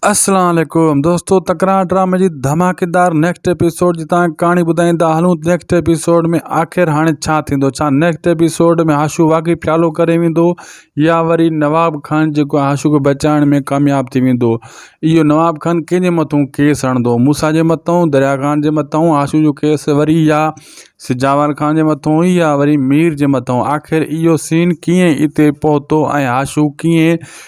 اسلام عليڪم دوستو تڪرار ڊرامي جي ڌماڪيدار نيڪسٽ ايپيسوڊ جي تان ڪهاڻي ٻڌائيندا هلون نيڪسٽ ايپيسوڊ ۾ آخر هاڻي ڇا ٿيندو ڇا نيڪسٽ ايپيسوڊ ۾ هاشو واقعي پيالو ڪري ويندو يا وري نواب خان جيڪو هاشو کي بچائڻ ۾ ڪامياب ٿي ويندو اهو نواب خان ڪنهن جي مٿون ڪيس هڻندو موسا جي مٿون دريا خان جي مٿون هاشو جو ڪيس وري يا سجاوال خان جي مٿون يا وري مير جي مٿون آخر اهو سين ڪيئن اتي پهتو ۽ هاشو ڪيئن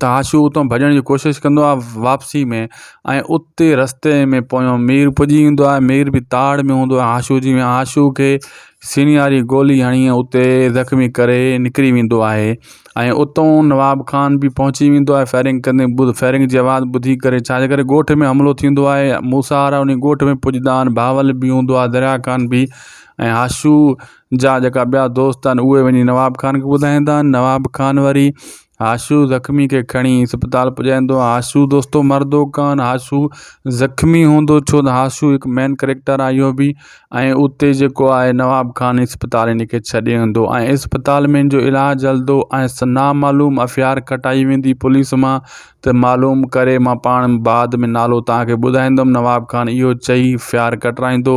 ته آشو اتان ڀڄڻ جي ڪوشش ڪندو آهي واپسي ۾ ۽ اتي رستي ۾ پويان مير پڄي ويندو آهي مير بي تاڙ ۾ هوندو آهي آشو جي آشو کي سينياري گولي هڻي ۽ اتي زخمي ڪري نڪري ويندو آهي ۽ اتان نواب خان بي پهچي ويندو آهي فائرنگ ڪندي ٻڌ فائرنگ جي آواز ٻڌي ڪري ڇا جي ڪري ڳوٺ ۾ حملو ٿيندو آهي موسا وارا ان ڳوٺ ۾ پڄدا آهن بهاول بي هوندو آهي دريا خان بي ۽ آشو جا جيڪا ٻيا دوست آهن اهي وڃي نواب خان کي ٻڌائيندا آهن نواب خان وري آشو زخمي کي کڻي اسپتال پڄائيندو آهي آشو دوستو مردو ڪان آشو زخمي هوندو ڇو ته آشو هڪ مين ڪريڪٽر آهي اهو بي ۽ اتي جيڪو آهي نواب خان اسپتال ان کي ڇڏي ايندو ۽ اسپتال ۾ ان جو علاج هلدو ۽ نا معلوم افيار کٽائي ويندي پوليس مان ته معلوم ڪري مان پاڻ بعد ۾ نالو تان کي ٻڌائيندم نواب خان اهو چئي افيار کٽرائيندو